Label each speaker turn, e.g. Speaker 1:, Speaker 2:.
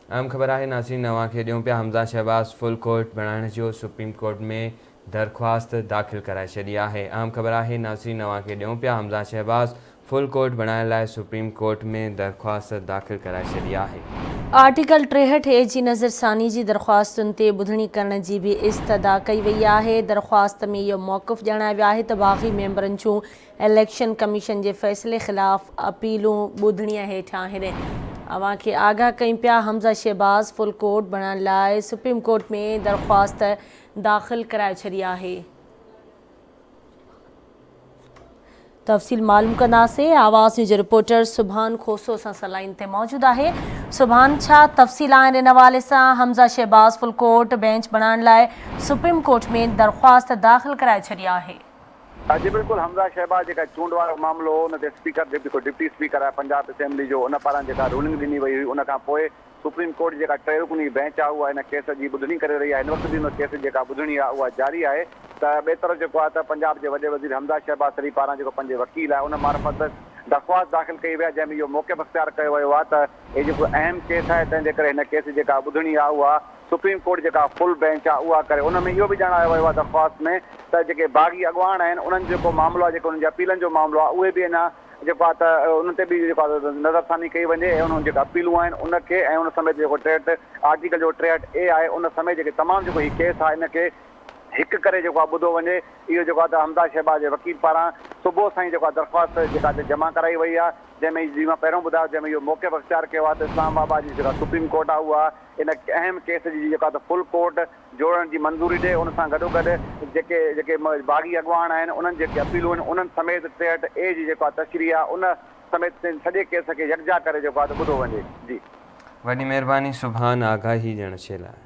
Speaker 1: اھم خبر آھي ناظرين اوھان کي ڏيون پيا حمزه شھباز فل ڪورٽ بڻائڻ جو سپريم ڪورٽ ۾ درخواست داخل ڪرائي ڇڏي آھي اھم خبر آھي ناظرين اوھان کي ڏيون پيا حمزه شھباز فل ڪورٽ بڻائڻ لاء سپريم ڪورٽ ۾ درخواست داخل ڪرائي ڇڏي آھي. آرٽيڪل
Speaker 2: ٽيهٺ اي جي نظر ثاني جي درخواستن تي ٻڌڻي ڪرڻ جي به استدعا ڪئي وئي آهي درخواست ۾ اهو موقف ڄاڻايو ويو آهي ته باغي ميمبرن جون اليڪشن ڪميشن جي فيصلي خلاف اپيلون ٻڌڻي هيٺيان هن اوهان کي آگاهه ڪيون پيا حمزه شهباز فل ڪورٽ بڻائڻ لاء سپريم ڪورٽ ۾ درخواست داخل ڪرائي ڇڏي آهي تفصيل معلوم ڪنداسي آواز نيوز رپورٽر سبحان کوسو سان سلائن تي موجود آهي سبحان ڇا تفصيل آهن ان حوالي سان Hamza Shahbaz full court bench بڻائڻ لاء سپريم ڪورٽ ۾ درخواست داخل ڪرائي ڇڏي آهي جي بلڪل
Speaker 3: حمزه شهباز جيڪا چونڊ وارو معاملو هو ان تي اسپيڪر جيڪو ڊپٽي اسپيڪر آهي پنجاب اسيمبلي جو ان پاران جيڪا رولنگ ڏني وئي هئي ان کان پوء سپريم ڪورٽ جي جيڪا ٽي رڪني بينچ آهي اها ان ڪيس جي ٻڌڻي ڪري رهي آهي هن وقت به ان ڪيس جي جيڪا ٻڌڻي آهي اها جاري آهي ته ٻئي طرف جيڪو آهي ته پنجاب جي وڏي وزير حمزه شهباز سري پاران جيڪو پنهنجي وڪيل آهي ان معرفت درخواست داخل ڪئي وئي آهي جنهن ۾ اهو موقف اختيار ڪيو ويو آهي ته هي جيڪو اهم ڪيس آهي تنهن جي ڪري هن ڪيس جي جيڪا ٻڌڻي آهي اها سپريم ڪورٽ جيڪا فل بينچ آهي اها ڪري ان ۾ اهو به ڄاڻايو ويو آهي درخواست ۾ ته جيڪي باغي اڳواڻ آهن انهن جو جيڪو معاملو آهي جيڪو انهن جي اپيلن جو معاملو آهي اهي به اڃا جيڪو آهي ته انهن تي به جيڪو آهي نظرثاني ڪئي وڃي ۽ انهن جيڪا اپيلون آهن ان کي ۽ ان سميت جيڪو ٽيهٽ آرٽيڪل جو ٽيهٽ اي آهي ان سميت جيڪي تمام جيڪو هي ڪيس آهي ان کي هڪ ڪري جيڪو آهي ٻڌو وڃي اهو جيڪو آهي ته حمزه شهباز جي وڪيل پاران صبح سان ئي جيڪو آهي درخواست جيڪا آهي ته جمع ڪرائي وئي آهي جنهن ۾ جي مان پهريون ٻڌايو جنهن ۾ اهو موقف اختيار ڪيو آهي ته اسلام آباد جي جيڪا سپريم ڪورٽ آهي اها ان اهم ڪيس جي جيڪا ته فل ڪورٽ جوڙڻ جي منظوري ڏئي ان سان گڏوگڏ جيڪي جيڪي باغي اڳواڻ آهن انهن جي جيڪي اپيلون آهن انهن سميت ٽيهٺ اي جي جيڪا تشريح آهي ان سميت سين سڄي ڪيس کي يڪجا ڪري جيڪو آهي
Speaker 1: ته ٻڌو
Speaker 3: وڃي جي. وڏي مهرباني سبحان آغا
Speaker 1: هي
Speaker 3: ڄڻ
Speaker 1: ڇيلا
Speaker 3: آهي.